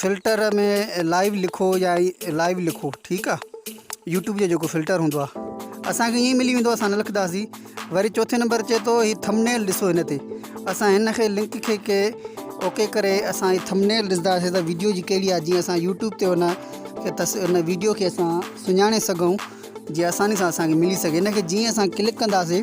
filter ۾ live لکو يا live لکو ٺيڪ آ يوٽيوب جو جيڪو فلٽر هوندو آ اسانکي ائين ملي ويندو اسان نه لکنداسي وري چوٿين نمبر چي ٿو هي ٿمنيل ڏسو هن تي اسان هن کي لنڪ کي ڪي اوڪي ڪري اسان هي ٿمنيل ڏسنداسي ته ويڊيو جي ڪهڙي آ جي اسان يوٽيوب تي هن کي تس هن ويڊيو کي اسان سڃاڻي سگهون جي آساني سان اسانکي ملي سگهي هن کي جي اسان ڪلڪ ڪنداسي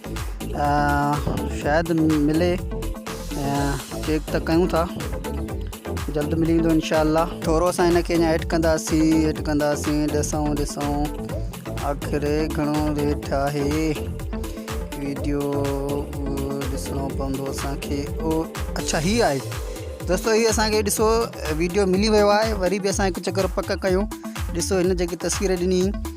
شايد ملي چيڪ ته ڪيون ٿا جلد ملي ويندو انشاء الله ٿورو اسان هن کي اڃا ايڊ ڪنداسين ايڊ ڪنداسين ڏسون ڏسون آخر گهڻو ريٽ آهي ويڊيو ڏسڻو پوندو اسان کي او اچھا هي آهي دوستو هي اسان کي ڏسو ويڊيو ملي ويو آهي وري به اسان هڪ چڪر پڪ ڪيون ڏسو هن جيڪي تصوير ڏني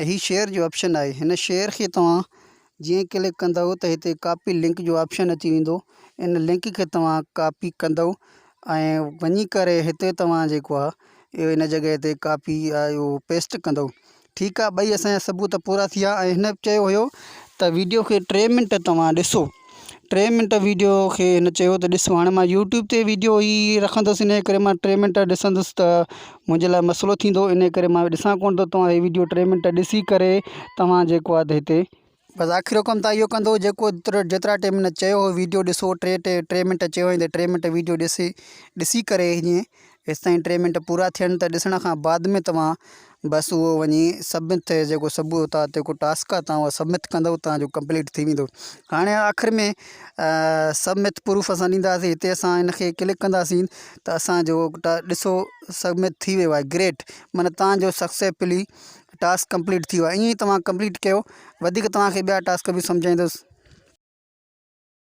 ۽ هي شيئر جو آپشن آهي هن شيئر کي توهان جيئن ڪلڪ ڪندو ته هتي ڪاپي لنڪ جو آپشن اچي ويندو ان لنڪ کي توهان ڪاپي ڪندو ۽ وڃي ڪري هتي توهان جيڪو آهي اهو ان جڳهه تي ڪاپي اهو پيسٽ ڪندو ٺيڪ آهي ٻئي اسان جا ثبوت پورا ٿي ويا ۽ هن چيو هيو ته ويڊيو کي ٽي منٽ توهان ڏسو ٽي منٽ ويڊيو کي هن چيو ته ڏس هاڻي مان يوٽيوب تي ويڊيو هي رکندس ان ڪري مان ٽي منٽ ڏسندس ته منهنجي لاء مسئلو ٿيندو ان ڪري مان ڏسان ڪونه ٿو توهان هي ويڊيو ٽي منٽ ڏسي ڪري توهان جيڪو آهي هتي بس آخر حڪم تان اهو ڪندو جيڪو جيترا ٽي منٽ چيو هو ويڊيو ڏسو ٽي ٽي ٽي منٽ چيو هين ته ٽي منٽ ويڊيو ڏسي ڏسي ڪري هيئن هيستائين ٽي منٽ پورا ٿين ته ڏسڻ کان بعد ۾ توهان بس اهو وڃي سبمٿ جيڪو سبو اتا جيڪو ٽاسڪ آ توهان اهو سبمٿ ڪندو توهان جو ڪمپليٽ ٿي ويندو هاڻي آخر ۾ سبمٿ پروف اسان ڏينداسين هتي اسان ان کي ڪلڪ ڪنداسين ته اسان جو ڏسو سبمٿ ٿي ويو آهي گريٽ معنيٰ توهان جو سڪسيفلي ٽاسڪ ڪمپليٽ ٿي ويو آهي ائين توهان ڪمپليٽ ڪيو وڌيڪ توهان کي ٻيا ٽاسڪ به سمجهائيندس